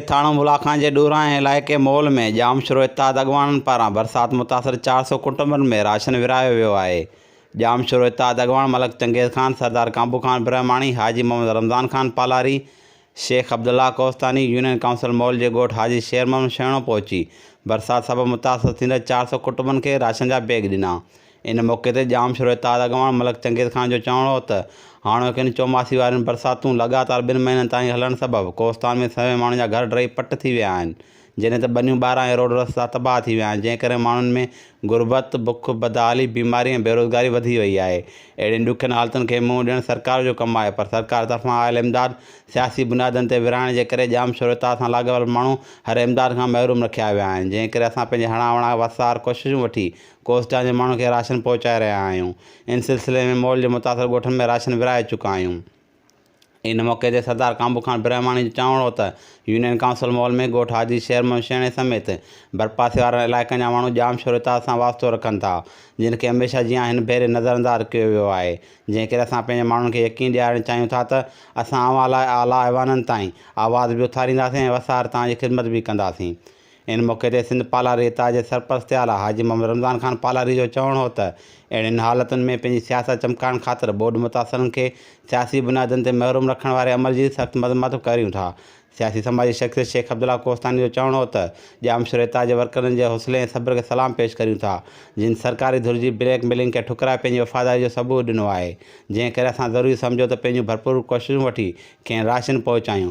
ٿاڻو ملاخان جي ڏورانهين علائقي مول ۾ ڄامشورو اتحاد اڳواڻن پاران برسات متاثر چار سؤ ڪٽنبن ۾ راشن ورهايو ويو آهي. ڄامشورو اتحاد اڳواڻ ملڪ چنگيز خان، سردار ڪانبو خان برهماڻي، حاجي محمد رمضان خان پالاري، شيخ عبدالله ڪوهستاني، يونين ڪائونسل مول جي ڳوٺ حاجي شير محمد شيڻو پهچي برسات سبب متاثر ٿيندڙ چار سؤ ڪٽنبن کي راشن جا بيگ ڏنا. ان موقعي تي ڄام شوري تاج اڳواڻ ملڪ چنگيز خان جو چوڻ هو ته هاڻوڪين چوماسي وارين برساتون لڳاتار ٻن مهينن تائين هلڻ سبب ڪوهستان ۾ سوين ماڻهن جا گهر ڊهي پٽ ٿي ويا آهن جڏهن ته ٻنيون ٻارا ۽ روڊ رستا تباهه ٿي ويا آهن جنهن ڪري ماڻهن ۾ غربت، بک، بدحالي، بيماري ۽ بيروزگاري وڌي وئي آهي اهڙين ڏکين حالتن کي منهن ڏيڻ سرڪار جو ڪم آهي پر سرڪار طرفان آيل امداد سياسي بنيادن تي ورهائڻ جي ڪري ڄام شوري تاج سان لاڳاپيل ماڻهو هر امداد کان محروم رکيا ويا آهن جنهن ڪري اسان پنهنجي هڻا وڻا وسار ڪوششون وٺي ڪوسٽان جي ماڻهن کي راشن پهچائي رهيا آهيون، ان سلسلي ۾ مئل جي متاثر ڳوٺن ۾ راشن ورهائي چڪا آهيون. ان موقعي تي سردار ڪانبو خان برهماڻي جو چوڻ هو ته يونين ڪائونسل مئل ۾ ڳوٺ حاجي شير محمد شيڻي سميت ڀرپاسي وارن علائقن جا ماڻهو ڄام شور اتحاد سان واسطو رکن ٿا، جن کي هميشه جيان هن ڀيري نظرانداز ڪيو ويو آهي، جنهن ڪري اسان پنهنجي ماڻهن کي يقين ڏيارڻ چاهيون ٿا ته اسان اوهان لاء اعليٰ ايوانن تائين آواز به اٿارينداسين ۽ وسار توهان جي خدمت به ڪنداسين. ان موقعي تي سنڌ پالاري اتحاد جي سرپرست اعليٰ حاجي محمد رمضان خان پالاري جو چوڻ هو ته اهڙين حالتن ۾ پنهنجي سياست چمڪائڻ خاطر ٻوڏ متاثرن کي سياسي بنيادن تي محروم رکڻ واري عمل جي سخت مذمت به ڪريون ٿا. سياسي سماجي شخصيت شيخ عبدالله ڪوهستاني جو چوڻ هو ته ڄامشوري اتحاد جي ورڪرن جي حوصلي ۽ صبر کي سلام پيش ڪريون ٿا جن سرڪاري ڌر جي بليڪ ميلنگ کي ٺڪرائي پنهنجي وفاداري جو ثبوت ڏنو آهي جنهن ڪري اسان ضروري سمجهيو ته پنهنجون ڀرپور ڪوششون وٺي کين راشن پهچايون